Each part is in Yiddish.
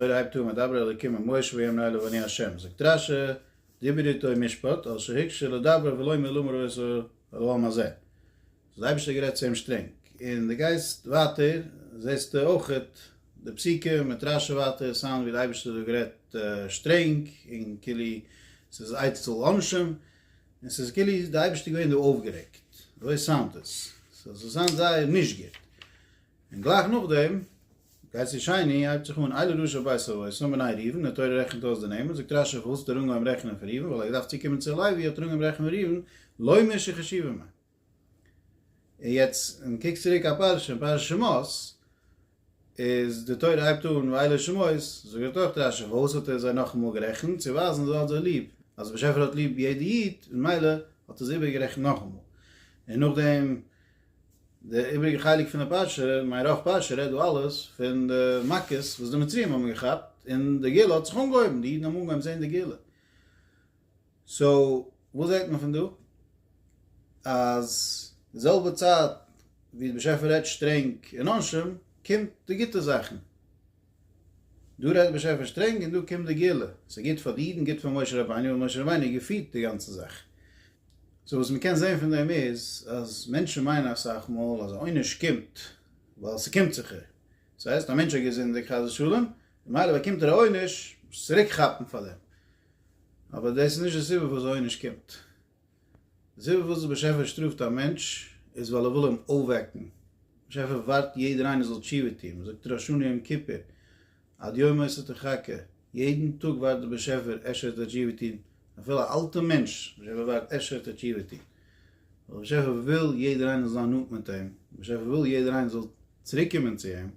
תורה הייבט אן מיט דבר אלוקים אל משה ויאמר אליו אני השם, זאגט רש י, דיבר איתו משפט, על שהקשה לדברו ולא האמר לאמר אל העם הזה. האט דער אייבערשטער גערעדט צו אים שטרענג. און די גייסט ווייטער זעסטו אויך די פסוקים מיט רש י ווייטער סיין ווי דער אייבערשטער האט דא גערעדט שטרענג און כאילו ס'איז עצתו לעונשים, און ס'איז כאילו דער אייבערשטער איז געווען דא אויפגערעגט. אזוי סאונדט עס. ס'זאל זיין זייער נישט גוט. און גלייך נאכדעם גייט צו שני, הייבט זיך אן, אילו רשע בית אבות האם בניי ראובן, די תורה רעכנט אויס די נעמען, זאגט רשי פארוואס האט ער אנגעהויבן רעכענען פון ראובן, ווייל ער האט געדארפט צוקומען צו לוי, האט ער אנגעהויבן רעכענען ראובן, לא מ ש חשיבה מ. און יעצט ווען מ'קוקט צוריק א פרשה אין פרשת שמות, איז די תורה הייבט אן ואילו שמות, זאגט אויך רשי פארוואס האט ער זיי נאכאמאל גערעכנט, צו ווייזן אז ער האט זיי ליב, אז באשעפער האט ליב יעדע איד, ממילא האט ער זיי איבערגערעכנט נאכאמאל. און נאכדעם. די איבריגע חלק פון די פרשה, מיין רוב פרשה רעדט דא אלעס פון די מכות וואס די מצרים האבן געכאפט און די גאולה האט זיך אנגעהויבן, די אידן האבן אנגעהויבן זען די גאולה. סאו וואס זעט מען פון דא? אז די זעלבע צייט ווי די באשעפער רעדט שטרענג און עונשים קומט די גוטע זאכן. דא רעדט די באשעפער שטרענג און דא קומט די גאולה. ס'איז גוט פאר די אידן, גוט פאר משה רבינו, ווייל משה רבינו האט געפירט די גאנצע זאך. סאו וואס מ'קען זעהן פון דעם איז אז מענטשן מיינען אסאך מאל אז א עונש קומט ווייל ס'קומט זיך איר, דאס הייסט א מענטש האט געזינדיגט חס ושלום ממילא באקומט ער א עונש זיך צוריק כאפן פאר דעם, אבער דאס איז נישט די סיבה פארוואס די עונש קומט, די סיבה פארוואס דער באשעפער שטראפט א מענטש איז ווייל ער וויל אים אויפוועקן, דער באשעפער ווארט יעדער איינער זאל תשובה טון, מ'זאגט ראשון יום כיפור עד יום ה' תחכה, יעדן טאג ווארט דער באשעפער אשר תשיבתין, אפילו א אלטע מענטש, באשעפער ווארט אשר תשיבתין, ווייל באשעפער וויל יעדער איינער זאל זיין נאנט מיט אים, באשעפער וויל יעדער איינער זאל צוריק קומען צו אים,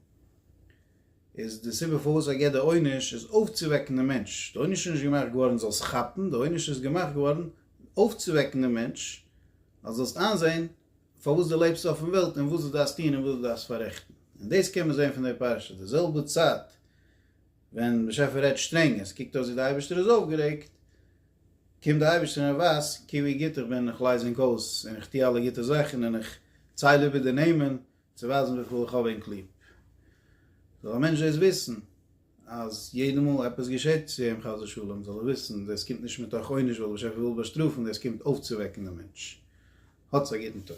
איז די סיבה פארוואס ער געבט די עונש איז אויפצואוועקן דעם מענטש, די עונש איז נישט געמאכט געווארן זאלסט כאפן, די עונש איז געמאכט געווארן אויפצואוועקן דעם מענטש, אז זאלסט איינזען. פארוואס דו לעבסט אויפן וועלט און וואס דו דארפסט טון און וואס דו דארפסט פאררעכטן. און דאס קען מען זען פון די פרשה, די זעלבע צייט ווען באשעפער רעדט שטרענג און ס'קוקט אויס ווי די אייבערשטער איז אויפגערעגט, קומט די אייבערשטער און ער ווייזט קוק ווי גוט איך בין, איך לייז ענק אויס און איך טו אלע גוטע זאכן און איך צייל איבער די נעמען צו ווייזן וויפיל איך האב ענק ליב. זאל א מענטש דאס וויסן. אז יעדע מאל עפעס געשעט צו אים חס ושלום זאל ער וויסן דאס קומט נישט מתוך עונש ווייל דער באשעפער וויל באשטראפן דאס קומט אויפצואוועקן דעם מענטש. האטס א גוטן טאג.